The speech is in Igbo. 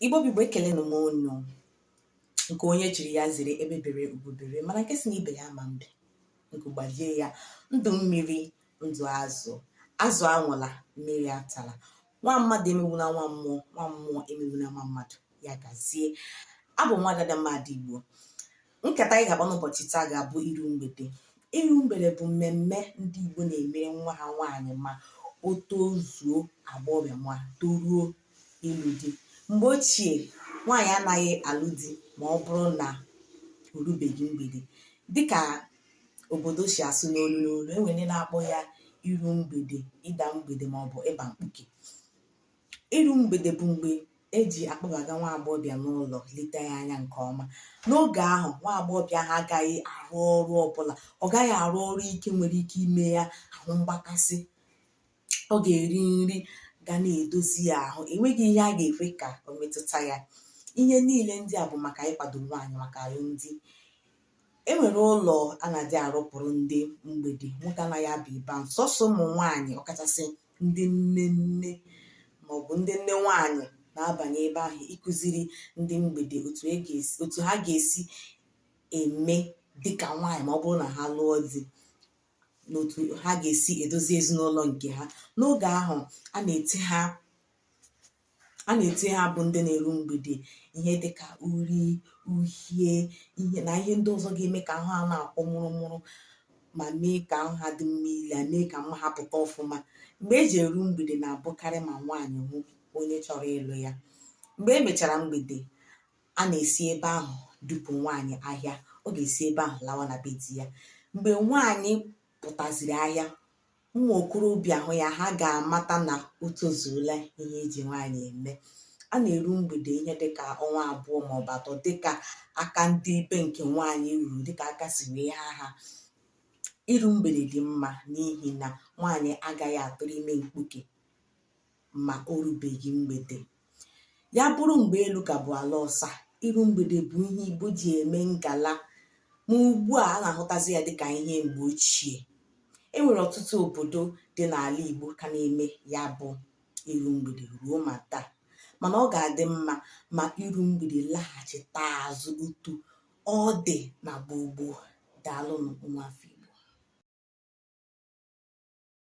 igbo bụ igbo ekelena m unu nke onye chiri ya zere egbe bere ugo bere mana nke sị na ibe ya ama mbe nku gbajie ya ndụ mmiri ndụ azụ azụ anwụla mmiri atala nwa mmadụ emewula nwa mmụọ nwa mmụọ emewula nwa mmadụ ya gazie abụ m nwada adamma ndị igbo nkata anyị ga-akpa n'ụbọchị taa ga-abụ iru mgbede iru mgbede bụ mmemme ndị Igbo na-emere nwa ha nwaanyị ma o tozuo agbọghọbịa ma toruo ịlụ di mgbe ochie nwaanyị anaghị alụ di ma ọ bụrụ na o rubeghị mgbede dịka obodo si asụ n'olu n'olu enwere ndị na-akpọ ya iru mgbede ịda mgbede maọbụ ịba mkpuke Iru mgbede bụ mgbe e ji akpọbaga nwa agbọghọbịa n'ụlọ leta ya anya nke ọma. N'oge ahụ, nwa agbọghọbịa ahụ agaghị arụ ọrụ ọbụla. Ọ gaghị arụ ọrụ ike nwere ike ime ya ahụ mgbakasị. Ọ ga-eri nri ga na-edozi ya ahụ. Enweghị ihe a ga-ekwe ka o metụta ya. Ihe niile ndị a bụ maka ịkwado nwaanyị maka alụmdi. E nwere ụlọ a na-adị arụpụrụ ndị mgbede. Nwoke anaghị aba ebe ahụ. Sọsọ ụmụ nwaanyị ọkachasị ndị nne nne maọbụ ndị nne nwanyị na-abanye ebe ahụ ịkụziri ndị mgbede otu ha ga-esi eme dịka nwaanyị ma ọ bụrụ na ha lụọ di na otu ha ga-esi edozi ezinụlọ nke ha n'oge ahụ a na-ete ha a na-ete ha bụ ndị na-eru mgbede ihe dịka uri uhie na ihe ndị ọzọ ga-eme ka ahụ ha na-akwọ mụrụmụrụ ma mee ka ahụ ha dị mma ile mee ka mma ha pụta ọfụma mgbe eji eru mgbede na-abụkarị ma nwaanyị hụ onye chọrọ ịlụ ya mgbe e mechara mgbede a na-esi ebe ahụ dupu nwaanyị ahịa ọ ga-esi ebe ahụ lawa na be di ya mgbe nwaanyị pụtaziri ahịa ụmụ okorobịa hụ ya ha ga-amata na o tozuola ihe eji nwaanyị eme a na-eru mgbede ihe dịka ọnwa abụọ maọbụ atọ dịka aka ndị ibe nke nwaanyị ruru dịka aka si wee ha ha iru mgbede dị mma n'ihi na nwaanyị agaghị atụrụ ime mkpuke ma o rubeghị mgbede ya bụrụ mgbe elu ka bụ ala ọsa iru mgbede bụ ihe igbo ji eme ngala ma ugbu a a na-ahụtazi ya dịka ihe mgbe ochie e nwere ọtụtụ obodo dị n'ala igbo ka na-eme ya bụ iru mgbede ruo ma taa mana ọ ga-adị mma ma iru mgbede laghachita azụ otu ọ dị na gboo gboo daalụnụ nwa afọ